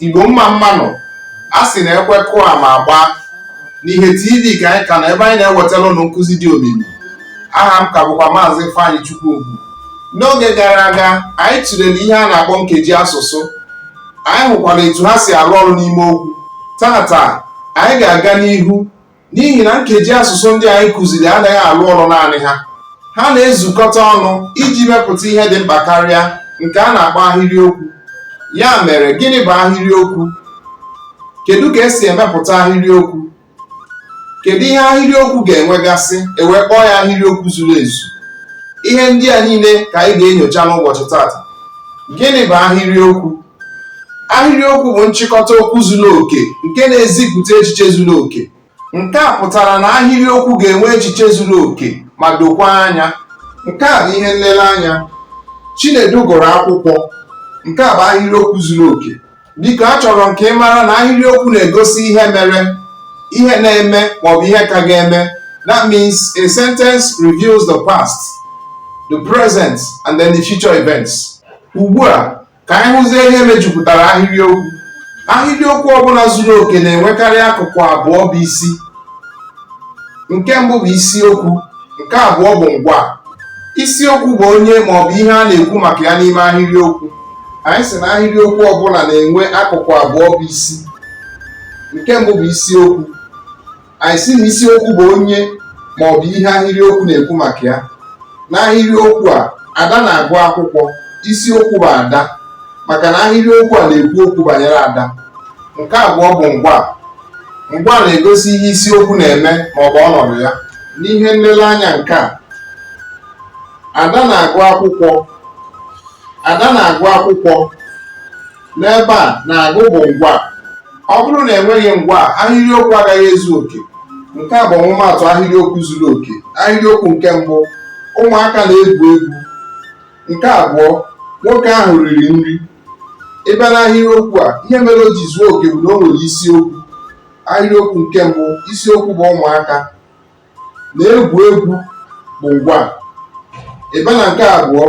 Igbo mma mma nụ a sị na ekwe kụọ ama agbaa n'ihe TV ka anyị ka nọ ebe anyị na-ewetara unu nkụzi dị omimi aha m ka bụkwa maazị Ifeanyị Chukwuogwu n'oge gara aga anyị tụlere ihe a na-akpọ nkeji asụsụ anyị hụkwara etu ha si arụ ọrụ n'ime okwu tata anyị ga-aga n'ihu n'ihi na nkeji asụsụ ndị anyị kụziri anaghị alụ ọrụ naanị ha ha na-ezukọta ọnụ iji mepụta ihe dị mkpa karịa nke a na-akpọ ahịrịokwu ya mere gịnị bụ ahịrịokwu kedu ka e si emepụta ahịrịokwu kedu ihe ahịrịokwu ga-enwegasị e wee kpọọ ya ahịrịokwu zuru ezu ihe ndị a niile ka anyị ga-enyocha n'ụbọchị tata gịnị bụ ahịrịokwu ahịrịokwu bụ nchịkọta okwu zuru oke nke na-ezipụta echiche zuru oke nke a pụtara na ahịrịokwu ga-enwe echiche zuru oke ma dokwa anya nke a bụ ihe nlereanya Chinedu gụrụ akwụkwọ nke a bụ ahịrịokwu zuru oke biko achọrọ m ka ị mara na ahịrịokwu na-egosi ihe mere ihe na-eme maọbụ ihe ka ga-eme that means a sentence reveals the past the present and then the future events ugbu a Ka anyị hụzie ihe mejupụtara ahịrịokwu. Ahịrịokwu ọbụla zuru oke na-enwekarị akụkụ abụọ bụ isi. Nke mbụ bụ isiokwu, nke abụọ bụ ngwaa. Isiokwu bụ onye maọbụ ihe a na-ekwu maka ya n'ime ahịrịokwu. Anyị sị na ahịrịokwu ọbụla na-enwe akụkụ abụọ bụ isi. Nke mbụ bụ isiokwu. anyị sị na isiokwu bụ onye ma ọ bụ ihe ahịrịokwu na-ekwu maka ya n'ahịrịokwu a Ada na-agụ akwụkwọ isiokwu bụ Ada maka na ahịrịokwu a na-ekwu okwu banyere Ada nke abụọ bụ ngwaa ngwaa na-egosi ihe isiokwu na-eme ma ọ bụ ọnọdụ ya n'ihe nlereanya nke a Ada na-agụ akwụkwọ Ada na-agụ akwụkwọ n'ebe a na-agụ bụ ngwaa ọ bụrụ na e nweghị ngwaa ahịrịokwu agaghị ezu oke nke a bụ ọmụmaatụ ahịrịokwu zuru oke ahịrịokwu nke mbụ ụmụaka na-egwu egwu nke abụọ nwoke ahụ riri nri ị bịa n'ahịrịokwu a ihe mere o ji zuo oke bụ na o nwere isiokwu ahịrịokwu nke mbụ isiokwu bụ ụmụaka na-egwu egwu bụ ngwaa ị bịa na nke abụọ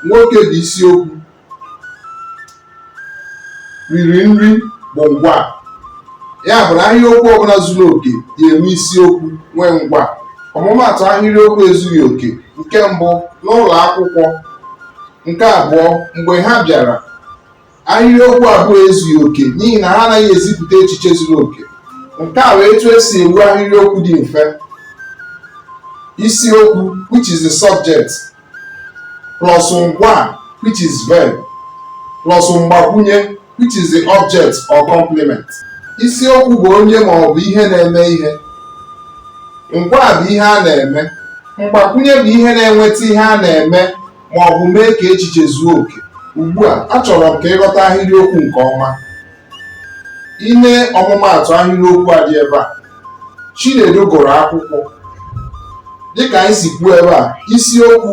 nwoke bụ isiokwu riri nri bụ ngwaa ya bụ na ahịrịokwu ọbụla zuru oke ga-enwe isiokwu nwee ngwaa ọmụmaatụ ahịrịokwu ezughị oke nke mbụ n'ụlọ akwụkwọ nke abụọ mgbe ha bịara ahịrịokwu abụọ ezughị oke n'ihi na ha anaghị ezipụta echiche zuru oke nke a bụ etu esi ewu ahịrịokwu dị mfe isiokwu which is the subject plus ngwa which is verb plus mgbakwunye which is the object or complement isiokwu bụ onye ma ọ bụ ihe na-eme ihe ngwa bụ ihe a na-eme mgbakwunye bụ ihe na-enweta ihe a na-eme ma ọ bụ mee ka echiche zuo oke ugbu a achọrọ m ka ị ghọta ahịrịokwu nke ọma i nee ọmụmaatụ ahịrịokwu a dị ebe a Chinedu gụrụ akwụkwọ dịka anyị si kwuo ebe a isiokwu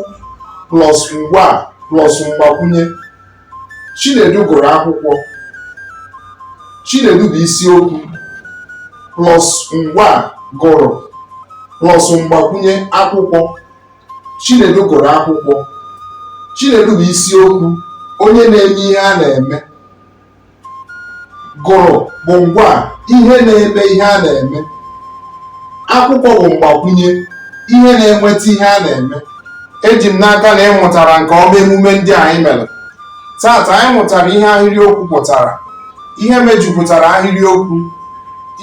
plus ngwa plus mgbakwunye Chinedu gụrụ akwụkwọ Chinedu bụ isiokwu plus ngwa gụrụ plus mgbakwunye akwụkwọ Chinedu gụrụ akwụkwọ Chinedu bụ isiokwu onye na-eme ihe a na-eme gụrụ bụ ngwa ihe na-eme ihe a na-eme akwụkwọ bụ mgbakwunye ihe na-enweta ihe a na-eme eji m n'aka na ị mụtara nke ọma emume ndị anyị mere taata anyị mụtara ihe ahịrịokwu pụtara ihe mejupụtara ahịrịokwu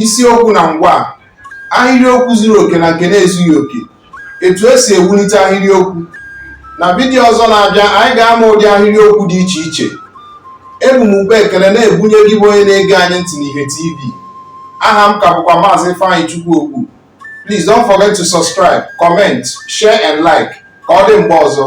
isiokwu na ngwa ahịrịokwu zuru oke na nke na-ezughị oke etu esi ewulite ahịrịokwu na vidiyo ọzọ na-abịa anyị ga-ama ụdị ahịrịokwu dị iche iche ebu m ukpa ekele na-ebunye gị bụ onye na-ege anyị ntị n'ihe tv aha m ka bụkwa maazị Ifeanyịchukwu Ogbu please don't forget to subscribe comment share and like ka ọ dị mgbe ọzọ